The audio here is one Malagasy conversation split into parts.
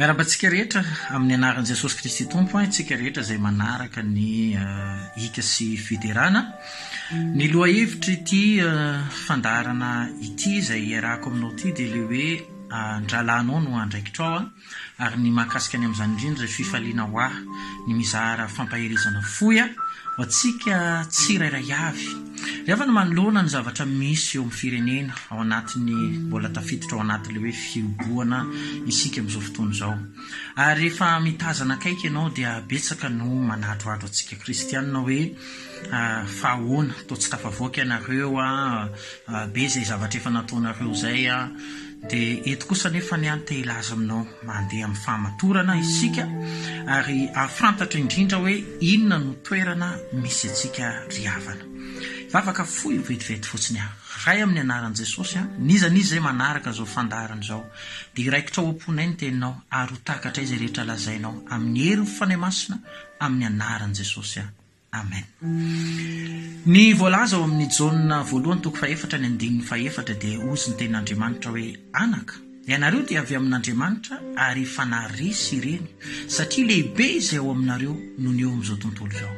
Miarahaba antsika rehetra amin'ny anaran'i Jesosy Kristy Tompo antsika rehetra izay manaraka ny hika sy fiderana. Ny lohahevitr'ity fandaharana ity izay iarahako aminao ity dia ilay hoe ny rahalahinao no andraikitrao ary ny mahakasika ny amin'izany indrindra izay fifaliana ho ahy ny mizara fampaherezana fohy ho antsika tsirairay avy. Rehefa ny manoloana ny zavatra misy eo amin'ny firenena ao anatin'ny mbola tafiditra ao anatin'ilay hoe fihibohana isika amin'izao fotoana izao. Ary rehefa mitazana akaiky ianao dia betsaka no manadrohadro antsika kristianina hoe fa ahoana, toa tsy tafavoaka ianareo, be izay zavatra efa nataonareo izay. Dia eto kosa anefa ny ahy te hilaza aminao, mandeha amin'ny fahamatorana isika ary hahafantatra indrindra hoe inona no toerana misy antsika ry havana. Hivavaka fohy vetivety fotsiny aho. Ray amin'ny anaran'i Jesosy an, n'iza n'iza izay manaraka izao fandaharana izao dia hiraikitra ao am-ponay ny teninao ary ho takatray izay rehetra lazainao amin'ny herin'ny Fanahy Masina amin'ny anaran'i Jesosy an. Amen. Ny voalaza ao amin'ny Jaona voalohany toko fahefatra ny andininy fahefatra dia hozy ny tenin'Andriamanitra hoe anaka. Ianareo dia avy amin'Andriamanitra ary fanahy resy ireny satria lehibe izay ao aminareo noho ny eo amin'izao tontolo izao.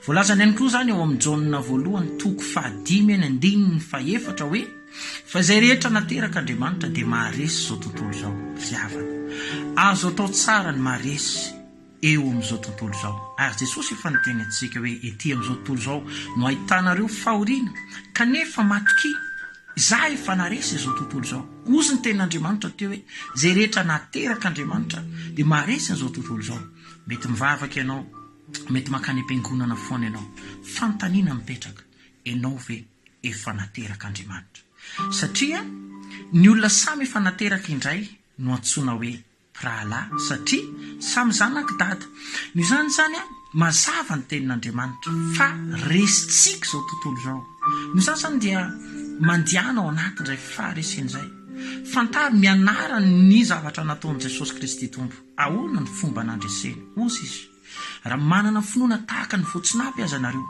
Voalazany ihany koa izany ao amin'ny Jaona voalohany toko fahadimy ny andininy fahefatra hoe fa izay rehetra naterak'Andriamanitra dia maharesy izao tontolo izao. Ry havana, azo atao tsara ny maharesy. eo amin'izao tontolo izao. Ary Jesosy efa niteny antsika hoe ety amin'izao tontolo izao no ahitanareo fahoriana, kanefa matokia, Izaho efa naharesy izao tontolo izao. Ozy ny tenin'Andriamanitra teo hoe izay rehetra nateraka Andriamanitra dia maharesy an'izao tontolo izao. Mety mivavaka ianao, mety mankany am-piangonana foana ianao. Fanontaniana mipetraka, ianao ve efa nateraka Andriamanitra? Satria ny olona samy efa nateraka indray no antsoina hoe mpirahalahy satria samy zanak'i Dada. Noho izany izany, mazava ny Tenin'Andriamanitra fa resintsika izao tontolo izao. Noho izany izany dia mandiana ao anatin'izay faharesena izay. Fantaro ny anarany ny zavatra nataon'i Jesosy Kristy Tompo. Ahoana ny fomba nandreseny? Hoy Izy, Raha manana finoana tahaka ny voatsinapy aza ianareo,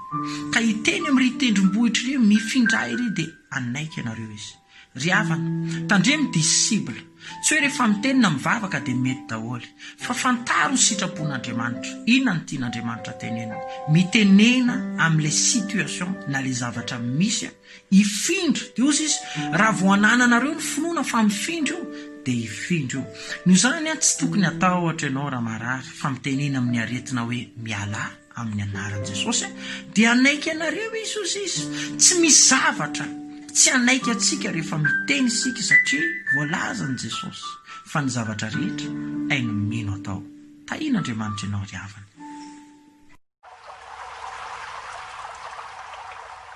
ka hiteny amin'irỳ tendrombohitra irỳ, Mifindra ahy irỳ, dia hanaiky ianareo izy. Ry havana, tandremo dia cible. Tsy hoe rehefa miteny na mivavaka dia mety daholo. Fa fantaro ny sitrapon'Andriamanitra. Inona no tian'Andriamanitra tenenina. Mitenena amin'ilay situation na ilay zavatra misy aho. Hifindra. Dia hozy izy, raha vao anananareo ny finoana fa mifindra io, dia hifindra io. Noho izany, tsy tokony hatahotr ianao raha marary, fa mitenena amin'ny aretina hoe mialà. amin'ny anaran'i Jesosy dia hanaiky anareo izy hoy izy, tsy misy zavatra tsy hanaiky antsika rehefa miteny isika satria voalazan'i Jesosy fa ny zavatra rehetra hain'ny mino atao, tahian'Andriamanitra ianao ry havana.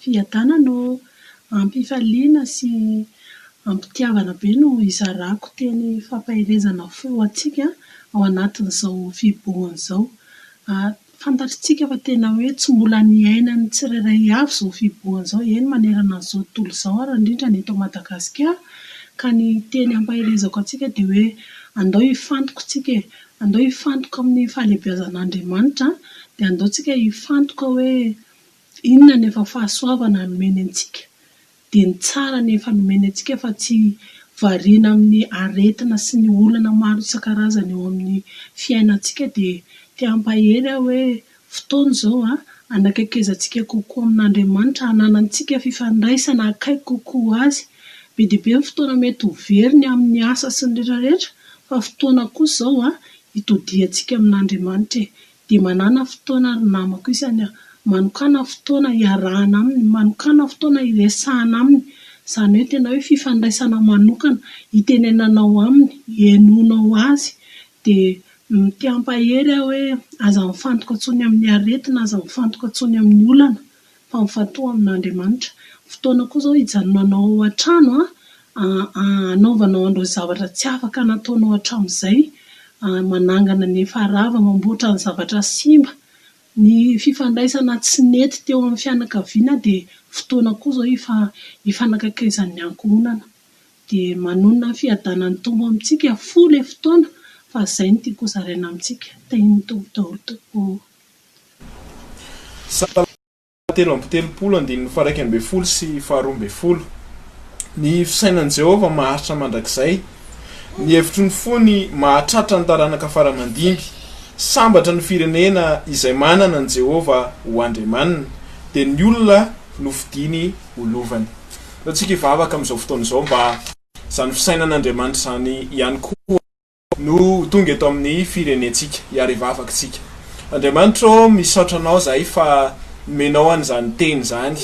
Fiadanana ô! Ampifaliana sy ampitiavana be no izarako teny fampaherezana fo ho antsika ao anatin'izao fibohana izao. Fantatritsika fa tena hoe tsy mbola niainan'ny tsirairay avy izao fibohana izao, eny manerana an'izao tontolo izao ary indrindra ny eto Madagasikara, ka ny teny ampaherezako antsika dia hoe andao hifantoka isika e! Andao hifantoka amin'ny fahalehibiazan' Andriamanitra dia andao tsika hifantoka hoe inona ny efa fahasoavana nomeny antsika dia ny tsara ny efa nomeny antsika fa tsy variana amin'ny aretina sy ny olana maro isan-karazany eo amin'ny fiainantsika dia te hampahery aho hoe Fotoana izao hanakaikezantsika kokoa amin'Andriamanitra, hananantsika fifandraisana akaiky kokoa Azy. Be dia be ny fotoana mety ho very ny amin'ny asa sy ny rehetrarehetra, fa fotoana kosa izao hitodiantsika amin'Andriamanitra e! Dia manàna fotoana ry namako isany a! Manokàna fotoana hiarahana Aminy, manokàna fotoana hiresahana Aminy, izany hoe tena hoe fifandraisana manokana, hitenenanao Aminy, hihainoanao Azy, Dia mitiampahery aho hoe aza mifantoka intsony amin'ny aretina, aza mifantoka intsony amin'ny olana fa mifantoha amin'Andriamanitra. Fotoana koa izao hijanonanao ao an-trano hanaovanao an'ireo zavatra tsy afaka nataonao hatramin'izay, manangana ny efa rava, mamboatra ny zavatra simba. Ny fifandraisana tsy nety teo amin'ny fianakaviana dia fotoana koa izao hifanakaikezan'ny ankohonana. dia manonona ny fiadanan'ny Tompo amintsika foa ilay fotoana fa izay no tiako hozaraina amintsika. Tahian'ny Tompo daholo tompoko ô. Salamo telo amby telopolo andininy faharaika ambin'ny folo sy faharoa ambin'ny folo Ny fisainan'i Jehovah maharitra mandrakizay, ny hevitry ny fony mahatratra ny taranaka fara-mandimby. Sambatra ny firenena izay manana an'i Jehovah ho Andriamaniny, dia ny olona nofidiny. ho lovany. Aleo tsika hivavaka amin'izao fotoana izao mba izany fisainan'Andriamanitra izany ihany koa no ho tonga eto amin'ny firenentsika hiaro hivavakintsika. Andriamanitra ô, misaotra Anao izahay fa nomenao an'izany Teny izany,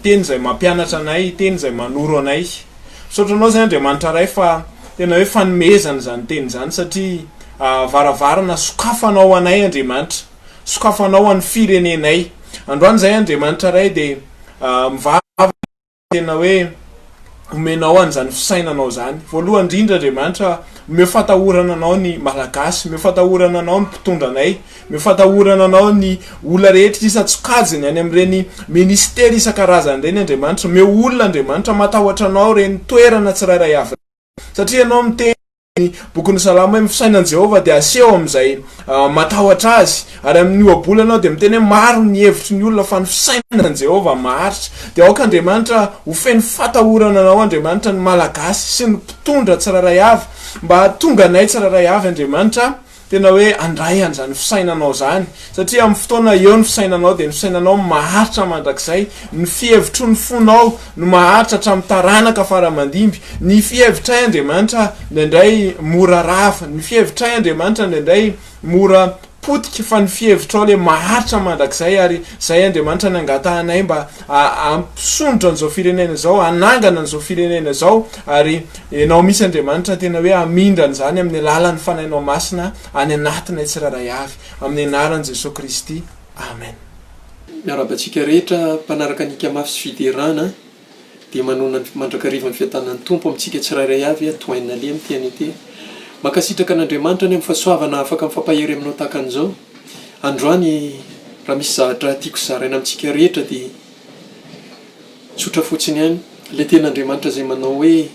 Teny izay mampianatra anay, Teny izay manoro anay. Misaotra Anao izay Andriamanitra Ray fa tena hoe fanomezana izany Teny izany satria varavarana sokafanao ho anay Andriamanitra. sokafanao an'ny firenenay. Androany izahay Andriamanitra Ray dia mivavaka tena hoe omenao an'izany fisainanao izany. Voalohany indrindra Andriamanitra omeo fatahorana anao ny Malagasy, omeo fatahorana anao ny mpitondra anay, omeo fatahorana anao ny olona rehetra isan-tsokajiny any amin'ireny ministera isan-karazany ireny Andriamanitra, omeo olona Andriamanitra matahotra anao ireny toerana tsirairay avy ireny satria ianao miteny ny Bokin'ny Salamo hoe, Ny fisainan'i Jehovah dia aseho amin'izay matahotra azy. Ary amin'ny Ohabola ianao dia miteny hoe, Maro ny hevitry ny olona, fa ny fisainan'i Jehovah maharitra. Dia aoka Andriamanitra ho feno fatahorana anao, Andriamanitra, ny Malagasy sy ny mpitondra tsirairay avy, mba hahatonga anay tsirairay avy, Andriamanitra, Tena hoe handray an'izany fisainanao izany, satria amin'ny fotoana eo ny fisainanao dia ny fisainanao maharitra mandrakizay, ny fihevitro ny fonao no maharitra hatramin'ny taranaka fara aman-dimby, ny fihevitray Andriamanitra indraindray mora rava, ny fihevitray Andriamanitra indraindray mora potika fa ny fihevitrao ilay maharitra mandrakizay ary izay Andriamanitra nangatahanay mba hampisondrotra an'izao firenena izao, hanangana an'izao firenena izao ary Ianao mihitsy Andriamanitra tena hoe hamindra an'izany amin'ny alalan'ny Fanahinao Masina any anatinay tsirairay avy. Amin'ny anaran'i Jesoa Kristy. Amen. Miarahaba antsika rehetra mpanaraka ny Ikamafy sy Fiderana dia manoana ny mandrakariva ny fiadanan'ny Tompo amintsika tsirairay avy ato Hainalea amin'ny TNT. Mankasitraka an'Andriamanitra ny amin'ny fahasoavana afaka mifampahery aminao tahaka an'izao androany raha misy zahatra tiako zaraina amintsika rehetra dia Tsotra fotsiny ihany. Ilay Tenin'Andriamanitra izay manao hoe,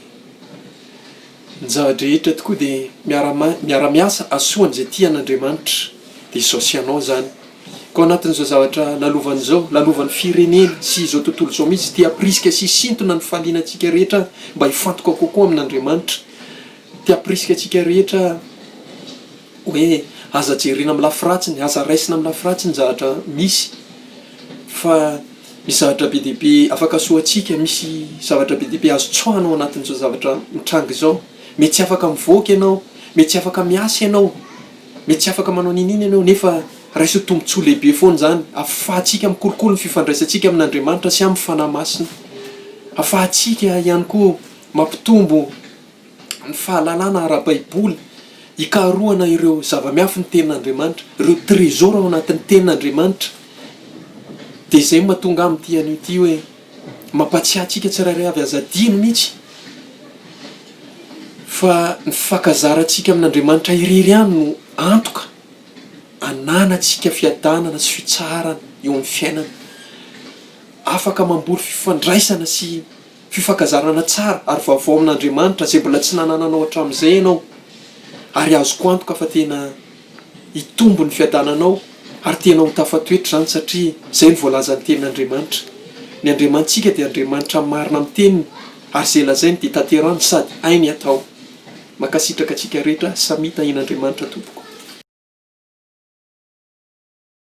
Ny zava-drehetra tokoa dia miara-ma- miara-miasa hahasoa an'izay tia an'Andriamanitra. Dia izao sy ianao izany. Ka ao anatin'izao zavatra lalovany izao, lalovan'ny firenena sy izao tontolo izao mihitsy, dia hampirisika sy hisintona ny fahaliana antsika rehetra mba hifantoka kokoa amin'Andriamanitra. Te hampirisika antsika rehetra hoe, Aza jerena amin'ny lafy ratsiny, aza raisina amin'ny lafy ratsy ny zavatra misy. Fa misy zavatra be dia be afaka soa antsika, misy zavatra be dia be azo tsoahina ao anatin'izao zavatra mitranga izao. Mety tsy afaka mivoaka ianao, mety tsy afaka miasa ianao, mety tsy afaka manao n'inona ianao, nefa raiso tombontsoa lehibe foana izany. Afahantsika mikolokolo ny fifandraisantsika amin'Andriamanitra sy amin'ny Fanahy Masina. Afahantsika ihany koa mampitombo. ny fahalalana ara-baiboly, hikarohana ireo zava-miafin'ny tenin'Andriamanitra, ireo trésor ao anatin'ny tenin'Andriamanitra, dia izay no mahatonga ahy mitia an'io ity hoe, mampatsiahy antsika tsirairay avy, aza adino mihitsy fa ny fifankazarantsika amin'Andriamanitra irery ihany no antoka ananantsika fiadanana sy fitsaharana eo amin'ny fiainana, afaka mamboly fifandraisana sy. Fifankazarana tsara ary vaovao amin'Andriamanitra izay mbola tsy nanananao hatramin'izay ianao, ary azoko antoka fa tena hitombo ny fiadananao ary tena ho tafatoetra izany satria izay no voalazan'ny Tenin'Andriamanitra. Ny Andriamanitsika dia Andriamanitra marina amin'ny Teniny ary izay lazainy dia tanterahiny sady hainy hatao. Mankasitraka antsika rehetra samia tahin'Andriamanitra tompoko.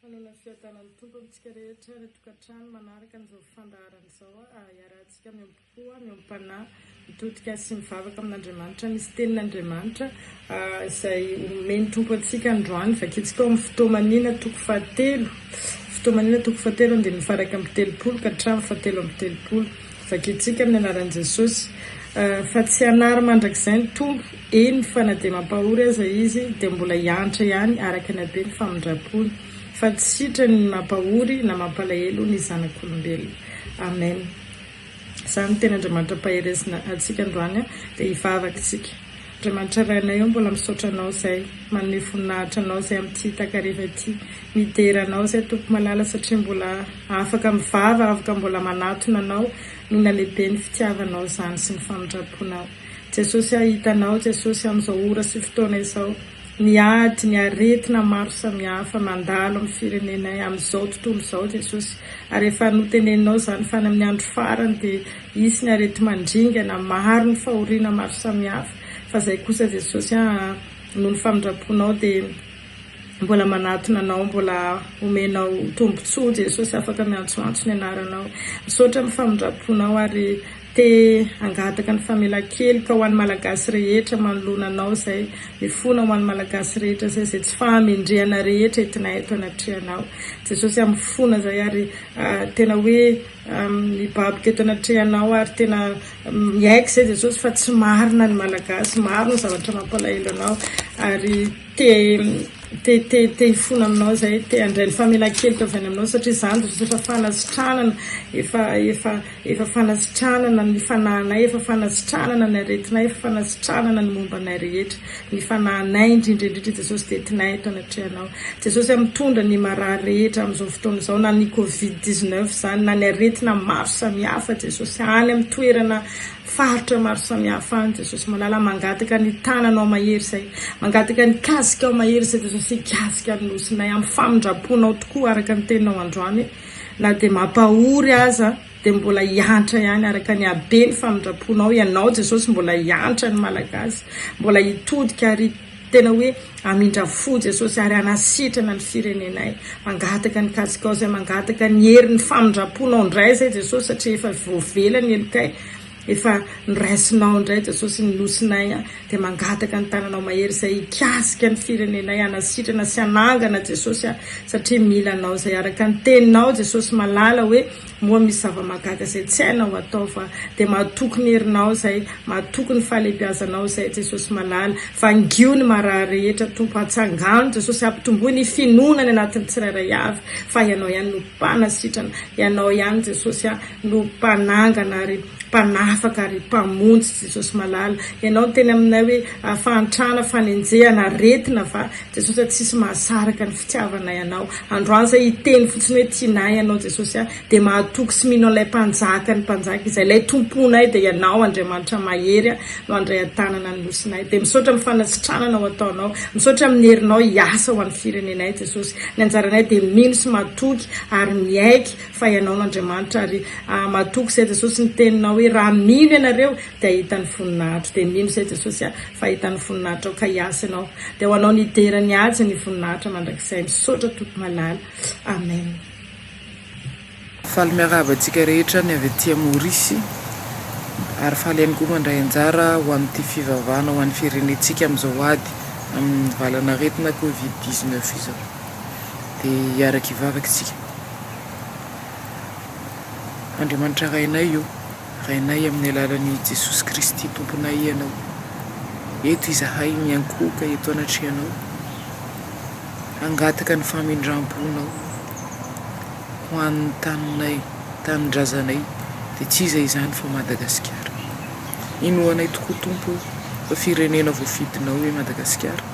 Fanaonan'ny Fiadanan'ny Tompo amintsika rehetra any an-tokantrano manaraka an'izao fandaharana izao, hiarahantsika miamboho miampanahy. Mitodika sy mivavaka amin'Andriamanitra misy tenin'Andriamanitra izay omen'ny Tompo antsika androany. Vakintsika ao amin'ny Fotoamaniana toko fahatelo, Fotoamaniana toko fahatelo andininy faha iraika amby telopolo ka hatramin'ny faha telo amby telopolo. Vakintsika amin'ny anaran'i Jesosy fa tsy hanary mandrakizay ny Tompo, eny fa na dia mampahory aza Izy dia mbola hiantra ihany araka ny habeny famindrampony, fa tsy sitrany ny mampahory na mampalahelo ny zanak'olombelona. Amen. Izany no tena Andriamanitra Mpaherezina antsika androany dia hivavaka isika. Andriamanitra Rainay ô mbola misaotra Anao izay manome voninahitra Anao izay amin'ity takariva ity midera Anao izay Tompo malala satria mbola afaka mivava afaka mbola manatona Anao noho ny halehiben'ny fitiavanao izany sy ny famindramponao Jesosy a hita Anao Jesosy amin'izao ora sy fotoana izao ny ady, ny aretina maro samihafa mandalo amin'ny firenenay amin'izao tontolo izao Jesosy ary efa noteneninao izany fa any amin'ny andro farany dia hisy ny aretimandringana maro ny fahoriana maro samihafa fa izay kosa Jesosy a noho ny famindramponao dia mbola manatona anao mbola homenao tombotsoa Jesosy afaka miantsoantso ny anaranao misaotra amin'ny famindramponao ary Te hangataka ny famelankeloka ho an'ny Malagasy rehetra manoloana anao izay mifona ho an'ny Malagasy rehetra izay izay tsy fahamendrehana rehetra entinay eto anatrehanao Jesosy a mifona izay ary tena hoe mibaboka eto anatrehanao ary tena miaiky izay Jesosy fa tsy marina ny Malagasy maro ny zavatra mampalahelo anao ary Te te te te hifona aminao izay, te handray ny famelan-keloka avy any aminao satria izany dia efa fanasitranana, efa efa efa fanasitranana ny fanahinay, efa fanasitranana ny aretinay, efa fanasitranana ny momba anay rehetra, ny fanahinay indrindra indrindra Jesosy dia entinay eto anatrehanao Jesosy a, mitondra ny marary rehetra amin'izao fotoana izao na ny covid 19 izany na ny aretina maro samihafa Jesosy any amin'ny toerana Faritra maro samihafa any Jesosy malala mangataka ny tananao mahery izay mangataka ny kasikao mahery izay Jesosy hikasika ny nosinay amin'ny famindramponao tokoa araka ny teninao androany na dia mampahory aza dia mbola hiantra ihany araka ny habeny famindramponao ianao Jesosy mbola hiantra ny malagasy mbola hitodika ary Tena hoe hamindra fo Jesosy ary hanasitrana ny firenenay. Mangataka ny kasikao zay, mangataka ny hery, ny famindramponao indray zay Jesosy satria efa voavela ny helokay, efa noraisinao indray Jesosy ny nosinay a, dia mangataka ny tananao mahery zay hikasika ny firenenay, hanasitrana sy hanangana Jesosy a, satria mila anao zay, araka ny teninao Jesosy malala hoe Moa misy zava-mahagaga izay tsy hainao atao va? Dia matoky ny herinao izay, matoky ny fahalehibiazanao izay, Jesosy malala. Vangio ny marary rehetra, Tompo. Antsangano, Jesosy, ampitomboy ny finoana any anatin'ny tsirairay avy fa Ianao ihany no Mpanasitrana. Ianao ihany, Jesosy a, no Mpanangana ary Mpanafaka ary Mpamonjy, Jesosy malala. Ianao niteny aminay hoe, Fahantrana, fanenjehana, aretina va? Jesosy a tsisy mahasaraka ny fitiavanay anao androany zay hiteny fotsiny hoe tianay anao jesosy a de mahatoky sy mino an'ilay mpanjaka ny mpanjaka izay ilay tomponay de ianao andriamanitra mahery a no andray antanana ny nosinay de misaotra am fanasitranana ho ataonao misaotra aminy herinao hiasa ho any firenenay jesosy ny anjaranay de mino sy matoky ary miaiky fa ianao no andriamanitra ary a matoky zay jesosy ny teninao hoe raha mino ianareo de ahita ny voninahitro de mino zay jesosy a. Fahita ny voninahitrao ka hiasa ianao dia ho anao ny hidera ny haja ny voninahitra mandrakizay misaotra Tompo malala Amen. Faly miarahaba antsika rehetra ny avy aty Maorisy ary faly ihany koa mandray anjara ho amin'ity fivavahana ho an'ny firenentsika amin'izao ady amin'ny valan'aretina covid dix neuf izao. Dia hiaraka hivavaka isika. Andriamanitra Rainay o! Rainay amin'ny alalan'i Jesosy Kristy Tomponay Ianao. Eto izahay miankohoka eto anatrehanao, hangataka ny famindram-ponao ho an'ny taninay, tanindrazanay, dia tsy iza izany fa Madagasikara. Inoanay tokoa Tompo o, fa firenena voafidinao e Madagasikara,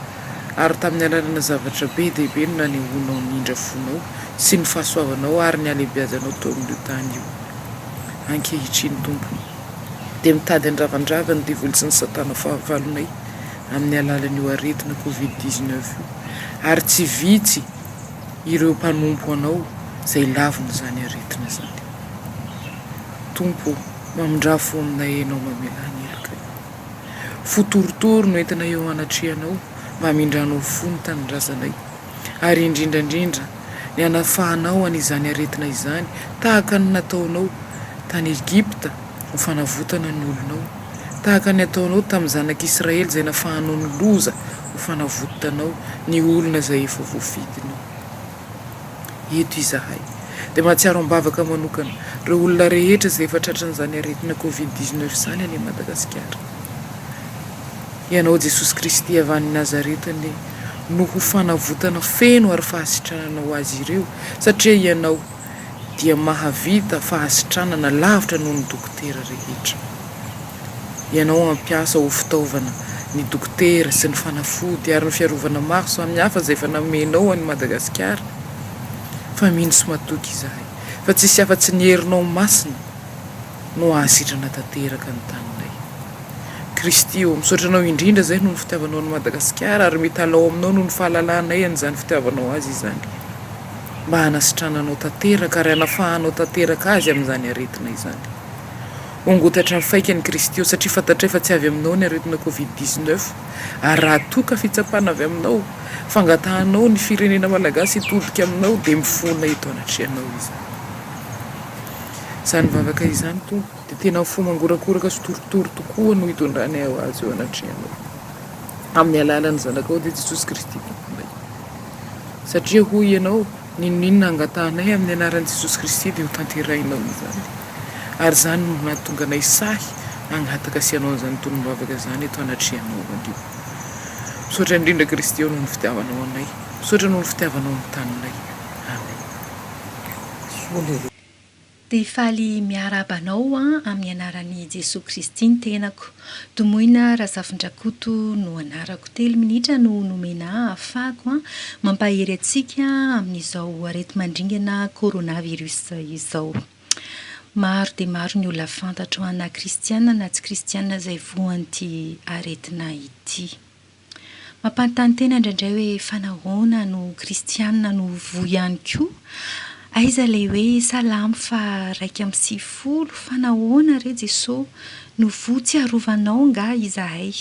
ary tamin'ny alalana zavatra be dia be no nanehoanao ny indra fonao sy ny fahasoavanao ary ny halebiazanao teo amin'io tany io. ankehitriny, Tompo, dia mitady handravandrava ny devoly sy ny satana fahavalonay amin'ny alalan'io aretina covid dix-neuf io, ary tsy vitsy ireo mpanompo Anao izay lavon'izany aretina izany. Tompo o, mamindrà fo aminay Ianao mamelà ny heloka io. Fo torotoro no entinay eo anatrehanao mba hamindranao fo ny tanindrazanay. ary indrindra indrindra ny hanafahanao an'izany aretina izany, tahaka ny nataonao tany Egypta ho fanavotana ny olonao, tahaka ny ataonao tamin'ny zanak'Israely izay nafahanao ny loza ho fanavotanao ny olona izay efa voafidinao. Eto izahay dia mahatsiaro am-bavaka manokana ireo olona rehetra izay efa tratran'izany aretina covid dix-neuf izany any Madagasikara. Ianao Jesosy Kristy avy any Nazareta anie no ho fanavotana feno ary fahasitranana ho azy ireo satria Ianao dia mahavita fahasitranana lavitra noho ny dokotera rehetra. Ianao hampiasa ho fitaovana ny dokotera sy ny fanafody ary ny fiarovana maro samihafa izay efa namenao an'i Madagasikara fa mino sy matoky izahay fa tsisy afa-tsy ny herinao masina no hahasitrana tanteraka ny taninay. Kristy ô, misaotra Anao indrindra izay noho ny fitiavanao an'i Madagasikara ary mitalaho aminao noho ny fahalalanay an'izany fitiavanao azy izany mba hanasitrananao tanteraka ary hanafahanao tanteraka azy amin'izany aretina izany. Hongotatra ny faikany Kristy ô, satria fantatray fa tsy avy aminao ny aretina covid dix-neuf ary raha toa ka fitsapana avy aminao, fangatahanao ny firenena Malagasy hitodika aminao dia mifona eto anatrehanao izany. Izany vavaka izany, Tompo, dia tena fo mangorakoraka sy torotoro tokoa no itondranay ho azy eo anatrehanao, amin'ny alalan'ny Zanakao, dia Jesosy Kristy Tomponay. Satria, hoy ianao, N'inon'inona angatahanay amin'ny anaran'i Jesosy Kristy, dia hotanterahinao izany. Ary izany no nahatonga anay sahy hangataka sy hanao an'izany tolom-bavaka izany eto anatrehanao, Ry. Misaotra indrindra, Kristy ô, noho ny fitiavanao anay. Misaotra noho ny fitiavanao ny taninay. Amena. soa le reo. Dia faly miarahaba anao amin'ny anaran'i Jesoa Kristy ny tenako. Domoina Razafindrakoto no anarako. Telo minitra no nomena ahy hafahako mampahery antsika amin'izao areti-mandringana coronavirus izao. Maro dia maro ny olona fantatro na kristiana na tsy kristiana izay voan'ity aretina ity. Mampanontany tena indraindray hoe fa nahoana no kristiana no voa ihany koa? Aiza ilay hoe salamo faharaika amby sivifolo, fa nahoana re Jesoa no voa? Tsy arovanao angaha izahay?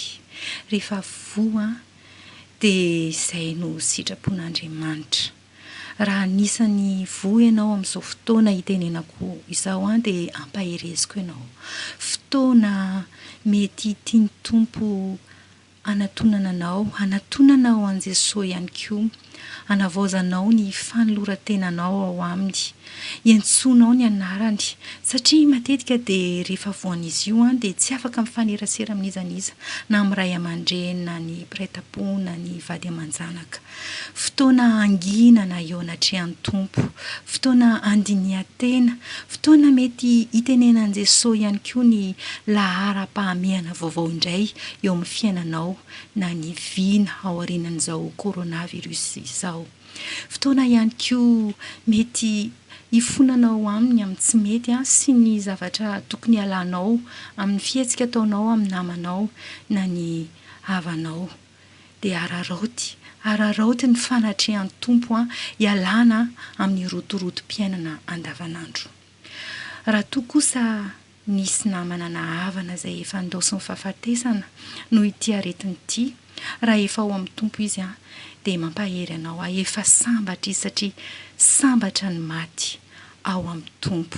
Rehefa voa dia izay no sitrapon'Andriamanitra. Raha anisan'ny voa ianao amin'izao fotoana itenenako izao dia ampahereziko ianao. Fotoana mety tian'ny Tompo Hanatonana anao, hanatonana ao an'i Jesoa ihany koa. Hanavaozanao ny fanoloran-tenanao ao Aminy. Iantsoanao ny anarany. Satria matetika dia rehefa voan'izy io dia tsy afaka mifanerasera amin'iza n'iza, na amin'ny ray aman-dreny, na ny mpiray tampo, na ny vady aman-janaka. Fotoana hangina na eo anatrehan'ny Tompo, fotoana handinihan-tena, fotoana mety hitenenan'i Jesoa ihany koa ny laharam-pahamehana vaovao indray eo amin'ny fiainanao na ny vina aorianan'izao coronavirus izao. Fotoana ihany koa mety hifonanao Aminy amin'ny tsy mety sy ny zavatra tokony hialanao amin'ny fihetsika ataonao amin'ny namanao na ny havanao. dia araraoty, araraoty ny fanatrehan'ny Tompo an, ialana amin'ny rotorotom-piainana andavanandro. Raha toa kosa nisy namana na havana izay efa andaosin'ny fahafatesana noho ity aretina ity, raha efa ao amin'ny Tompo izy an, dia mampahery anao aho, efa sambatra izy satria sambatra ny maty ao amin'ny Tompo.